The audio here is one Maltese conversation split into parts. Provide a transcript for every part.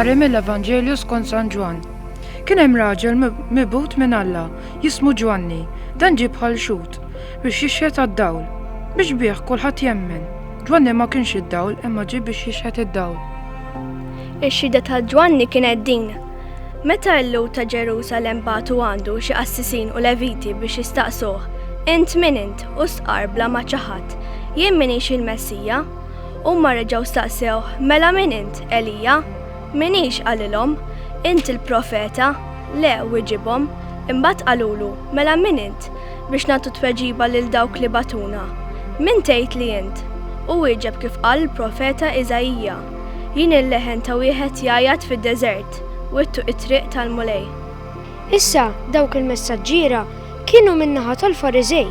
Qari mill-Evanġelju skont San Ġwann. Kien hemm raġel mibut minn Alla, jismu Ġwanni, dan ġib bħal xut biex jixħet għad-dawl, biex bih kulħadd jemmen. Ġwanni ma kienx id-dawl imma ġib biex jixħet id-dawl. Ix-xhieda ta' Ġwanni kienet din, Meta l-Lhud ta' Ġerusalemm bagħtu għandu xi qassisin u Leviti biex jistaqsuh, Int min int? hu stqarr bla ma ċaħad, Jien m'iniex il-Messija. Huma reġgħu staqsewh, Mela min int? Elija? M'iniex, qalilhom. Int il-Profeta? Le, wiġibhom. Imbagħad qalulu, Mela min int? biex nagħtu tweġiba lil dawk li bagħtuna. Min tgħid li int? Hu wieġeb kif qal il-Profeta Iżaija. Jien il-leħen ta' wieħed jgħajjat fid-deżert, wittu t-triq tal-Mulej. Issa dawk il-messaġġiera kienu min-naħa tal-Fariżej.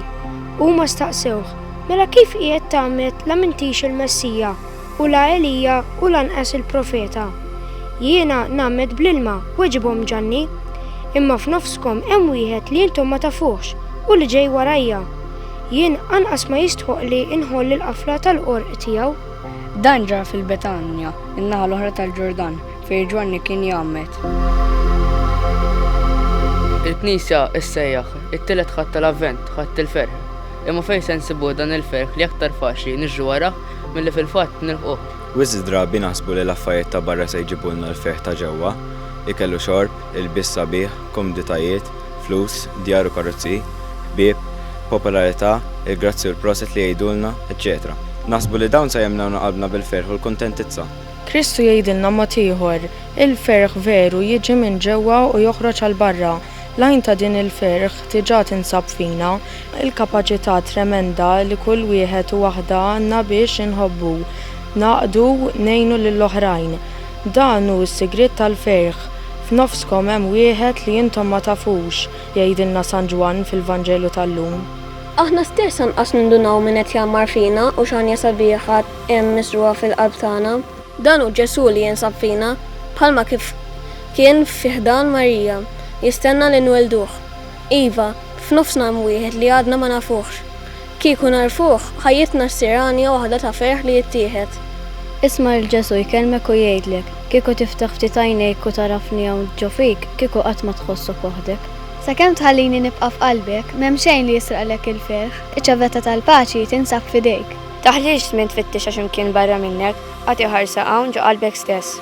Huma staqsewh, Mela kif qiegħed tgħammed la m'intix il-Messija, u la Elija u lanqas il-Profeta? Jiena ngħammed bl-ilma, weġibhom Ġanni. Imma f'nofskom hemm wieħed li intom ma tafuhx u li ġej warajja. Jien anqas ma jistħoqqli inħoll il-qafla tal-qorq tiegħu. Dan ġara fil-Betanja, in-naħa l-oħra tal-Ġordan, fejn Ġwanni kien jgħammed. Il-Knisja ssejjaħ it-tielet Ħadd tal-Avvent, Ħadd il-Ferħ. Imma fejn se nsibuh dan il-ferħ li aktar faċli niġru warajh milli fil-fatt nilħquh? Wisq drabi naħsbu li l-affarijiet ta' barra se jġibulna l-ferħ ta' ġewwa, ikel u xorb, ilbies sabiħ, komditajiet, flus, djar u karozzi, ħbieb, popolarità, il-grazzi u l-proset li jgħidulna, eċċetera Naħsbu li dawn sa jimlewna qalbna bil-ferħ u l-kuntentizza. Kristu jgħidilna mod ieħor, Il-ferħ veru jiġi minn ġewwa u joħroġ għal barra. L-għajn ta' din il-ferħ diġà tinsab fina, il-kapaċità tremenda li kull wieħed u waħda għandna biex inħobbu, ngħaqdu, ngħinu lill-oħrajn. Dan hu s-sigriet tal-ferħ, f'nofskom hemm wieħed li intom ma tafux, jgħidilna San Ġwann fil-Vanġelu tal-lum. Aħna stess anqas nindunaw min qed jgħammar fina u x'għanja sabiħa hemm miżrugħa fil-qalb tagħna. Dan hu Ġesù li jinsab fina, bħalma kif kien fi ħdan Marija, jistenna li nwellduh. Iva, f'nofsna hemm wieħed li għadna ma nafuhx. Kieku nagħrfuh, ħajjitna ssir għanja waħda ta' ferħ li jittieħed. Isma' lil Ġesù jkellmek u jgħidlek, Kieku tiftaħ ftit għajnejk u tagħrafni hawn ġo fik, kieku qatt ma tħossok waħdek. Sakemm tħallini nibqa' f'qalbek, m'hemm xejn li jisraqlek il-ferħ. Iċ-ċavetà tal-paċi tinsab f'idejk. Taħlix żmien tfittixha xi mkien barra minnek, agħti ħarsa hawn ġo qalbek stess.